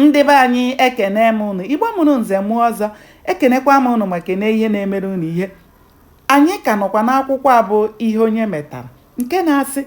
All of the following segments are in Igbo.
ndị be anyị ekene m unu igbo mụrụ nze mụọ ọzọ ekenekwa m unu ma kene ihe na-emere unu ihe anyị ka nọkwa n'akwụkwọ a bụ ihe onye metara nke na-asị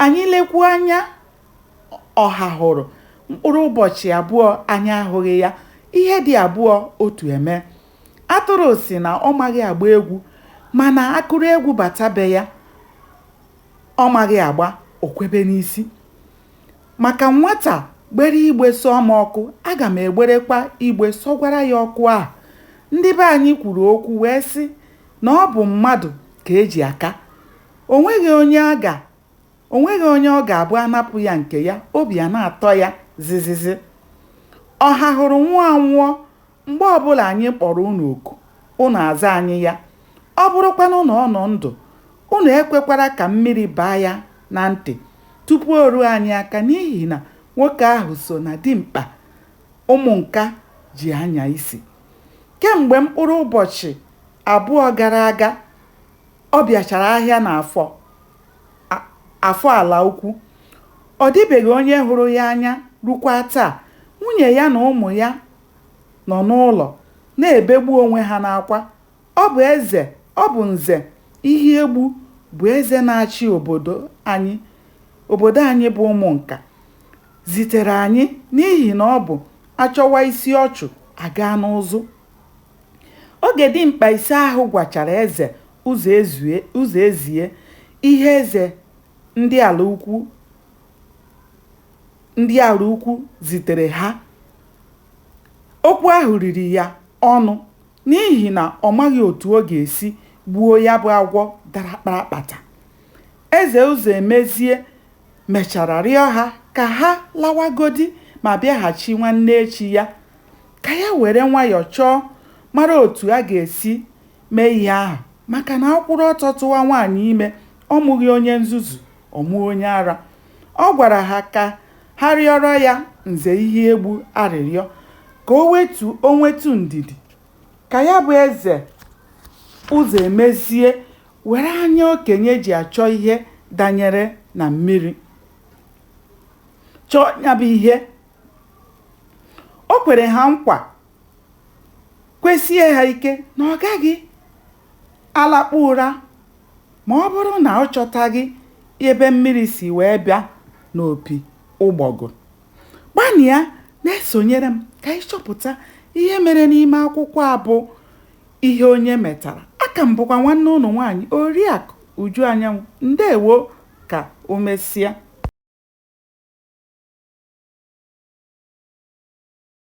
anyị lekwu anya ọhahụrụ mkpụrụ ụbọchị abụọ anyị ahụghị ya ihe dị abụọ otu eme atụrụ sị na ọ maghị agba egwu mana a kụrụ egwu bata be ya ọ maghị agba o kwebe n'isi Maka nwata gbere igbe sọọ m ọkụ, aga m egberekwa igbe sọgwara ya ọkụ a. Ndị be anyị kwuru okwu wee sị na ọ bụ mmadụ ka e ji aka. O nweghị onye a ga o nweghị onye ọ ga-abụ a napụ ya nke ya, obi ana-atọ ya zizizi. Ọhahụrụ nwụọ anwụọ. Mgbe ọ bụla anyị kpọrọ unu oku, unu aza anyị ya, ọ bụrụkwanụ na ọ nọ ndụ, unu ekwekwara ka mmiri baa ya na ntị tupu o ruo anyị aka, n'ihi na nwoke ahụ so na dimkpa Ụmụnka ji anya isi. Kemgbe mkpụrụ ụbọchị abụọ gara aga, ọ bịachara ahịa n'Afọ a, Afọ Alaukwu. Ọ dịbeghị onye hụrụ ya anya rukwaa taa. Nwunye ya na ụmụ ya nọ n'ụlọ na-ebegbu onwe ha n'akwa. Ọ bụ eze, ọ bụ Nze Iheegbu bụ eze na-achị obodo anyị. Obodo anyị bụ Ụmụnka zitere anyị n'ihi na ọ bụ a chọwa isi ọchụ, a gaa n'ụzụ. Oge dimkpa ise ahụ gwachara eze Ụzọezie ihe eze ndị Alaukwu ndị Alaukwu zitere ha. Okwu ahụ riri ya ọnụ n'ihi na ọ maghị otu ọ ga-esi gbuo ya bụ agwọ dara kparakpata. Eze Ụzọemezie mechara rịọ ha ka ha lawagodi ma bịaghachi nwanne echi ya ka ya were nwayọ chọọ mara otu a ga-esi mee ihe ahụ maka na a kwụrụ ọtọ tụwa nwaanyị ime Ọ mụghị onye nzuzu, ọ mụọ onye ara. Ọ gwara ha ka ha rịọrọ ya Nze Iheegbu arịrịọ ka o wetu o nwetu ndidi ka ya bụ eze Ụzọemezie were anya okenye ji achọ ihe danyere na mmiri chọọ ya bụ ihe. O kwere ha nkwa, kwesie ha ike na ọ gaghị alakpu ụra Ma ọ bụrụ na ọ chọtaghị ebe mmiri si wee bịa n'opi ụgbọgụ, gbanịa na-esonyere m ka anyị chọpụta ihe mere n'ime akwụkwọ a bụ Ihe Onye Metara. Aka m bụkwa nwanne ụnụ nwaanyị, Oriakụ Uju Anyanwụ. Ndewo ka o mesịa.